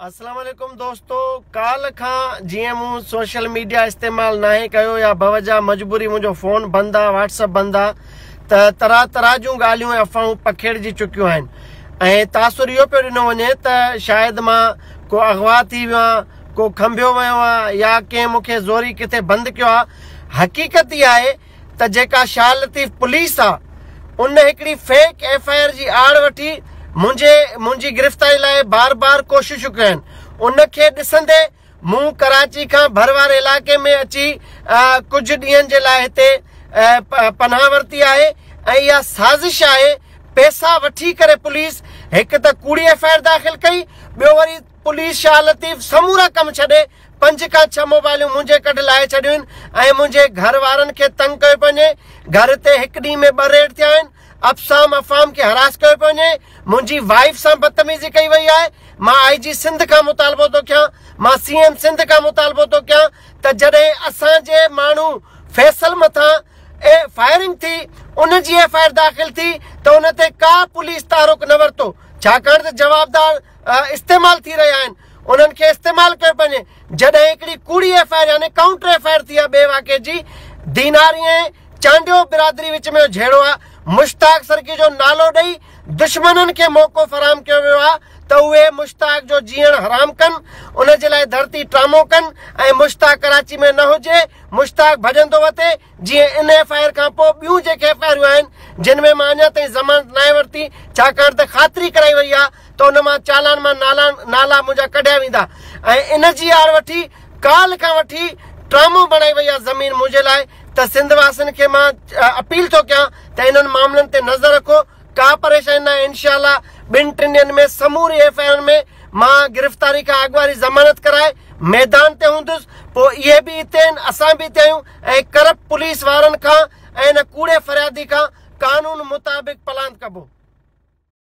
اسلام عليڪم دوستو ڪالھ کان جيئن مون سوشل ميڊيا استعمال ناهي ڪيو يا بوجا مجبوري منهنجو فون بند آ واٽس اپ بند آ ته طرح طرح جون ڳالهيون ۽ افواهون پکيڙجي چڪيون آهن ۽ تاثر اهو پيو ڏنو وڃي ته شايد مان ڪو اغوا ٿي ويو آهيان ڪو کنڀيو ويو آهيان يا ڪنهن مون کي زوري ڪٿي بند ڪيو آهي حقيقت اها آهي ته جيڪا شاهه لطيف پوليس آ ان هڪڙي فيڪ ايف آء آر جي آڙ وٺي منهنجي منهنجي گرفتاري لاء بار بار ڪوششون ڪيون آهن ان کي ڏسندي مون ڪراچي کان ڀر واري علائقي ۾ اچي ڪجهه ڏينهن جي لاء هتي پناهه ورتي آهي ۽ اها سازش آهي پيسا وٺي ڪري پوليس هڪ ته ڪوڙي ايف آء آر داخل ڪئي ٻيو وري پوليس شاهه لطيف سمورا ڪم ڇڏي پنج کان ڇهه موبائلون منهنجي ڪڍ لاهي ڇڏيون آهن ۽ منهنجي گهر وارن کي تنگ ڪيو پيو وڃي. گهر تي هڪ ڏينهن ۾ ٻه ريڊ ٿيا آهن. افسام افهام کي هراس ڪيو پيو وڃي. منهنجي وائيف سان بدتميزي ڪئي وئي آهي. مان آئي جي سنڌ کان مطالبو ٿو ڪيان، مان سي ايم سنڌ کان مطالبو ٿو ڪيان ته جڏهن اسان جي ماڻهو فيصل مٿان فائرنگ ٿي ان جي ايف آء آر داخل ٿي ته ان تي ڪا پوليس تحرڪ نه ورتو ڇاڪاڻ ته جوابدار استعمال ٿي رهيا آهن انهن کي استعمال ڪيو پنهنجي جڏهن هڪڙي ڪوڙي ايف آء آر يعني ڪائونٽر ايف آء آر ٿي آهي ٻئي واقعي جي ديناري ۽ چانڊيو برادري وچ ۾ جهيڙو آهي مشتاق سرڪي جو نالو ڏئي دشمنن کي موقعو فراهم ڪيو ويو آهي ته اهي مشتاق جو جيئڻ حرام ڪن ان جي لاء ڌرتي ٽرامو ڪن ۽ مشتاق ڪراچي ۾ نه هجي مشتاق ڀڄندو وتي جيئن ان ايف آء آر کان پوء ٻيون جيڪي ايف آء آرون آهن جن ۾ مان اڃا تائين ضمانت ناهي ورتي ڇاڪاڻ ته خاطري ڪرائي وئي آهي ته ان مان چالان مان نالان نالا منهنجا ڪڍيا ويندا ۽ ان جي آر وٺي ڪالهه کان وٺي ٽرامو بڻائي وئي آهي زمين منهنجي لاء ته سنڌ واسين کي مان اپيل ٿو ڪيان ته انهن معاملن تي نظر رکو ڪا پريشاني ناهي انشاء الله ٻن ٽن ڏينهن ۾ سموري ايف آء آرن ۾ مان گرفتاري کان اڳ واري ضمانت ڪرائي ميدان تي هوندس پوء اهي به هتي آهن اسان به هتي آهيون ۽ ڪرپٽ پوليس وارن کان ۽ ان ڪوڙي فريادي کان قانون مطابق پلاند ڪبو.